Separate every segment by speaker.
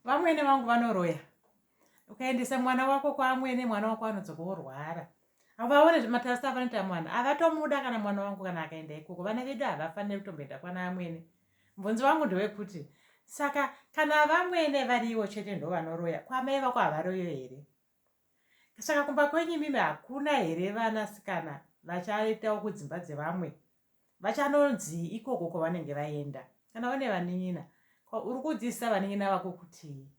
Speaker 1: vamwene vangu vanoroya ukaendesa mwana wako kwaamwene mwana wako anodzoka orwara havaone zvematasta avanoita mwana avatomuda kana mwana wangu kana akaenda ikoko vana vedu havafaniri kutomboenda kwana amwene mubvunzi wangu ndewekuti saka kana vamwene variwo chete ndo vanoroya kwamai vako havaroyo here saka kumba kwenyu imimi hakuna here vanasikana vachaitawo kudzimba dzevamwe vachanonzii ikoko kwavanenge vaenda kana vane vanin'ina uri kudzidzisa vanin'ina vako kutii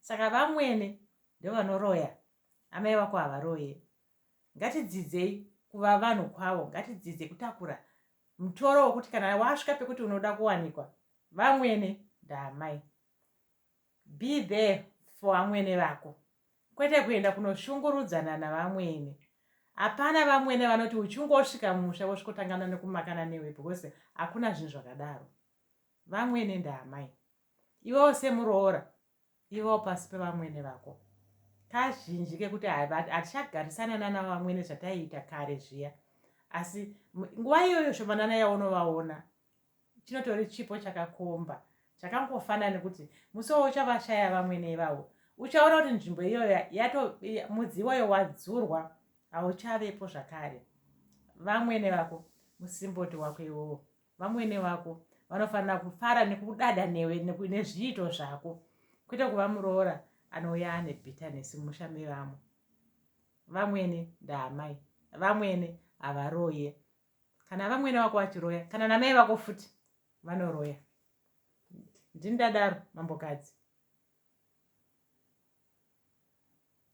Speaker 1: saka vamwene ndovanoroya amai vako havaroye ngatidzidzei kuva vanhu kwavo ngatidzidze kutakura mutoro wokuti kana wasvika pekuti unoda kuwanikwa vamwene ndaamai Be there for vamwene vako kwete kuenda kunoshungurudzana navamwene. Hapana vamwene vanoti uchingosvika mumusha vosvikotangana nekumakana newe because hakuna zvinhu zvakadaro. Vamwene ndaamai. Iwewo semuroora ivawo pasi pevamwene vako. Kazhinji kekuti hatichagarisana nana vamwene zvataiita kare zviya. Asi nguva iyoyo shomanana yaunovaona chinotori chipo chakakomba chakangofanana nekuti musi wo uchavashaya vamwene ivavo uchaona kuti nzvimbo iyoyo yato mudzi iwoyo wadzurwa hauchavepo zvakare vamwene vako musimboti wako iwowo vamwene vako vanofanira kufara nekudada newe nezviito zvako kwete kuva muroora anouya ane bitterness mumusha mevamwe vamwene ndaamai vamwene havaroye kana vamwene vako vachiroya kana namai vako futi vanoroya ndini ndadaro mambokadzi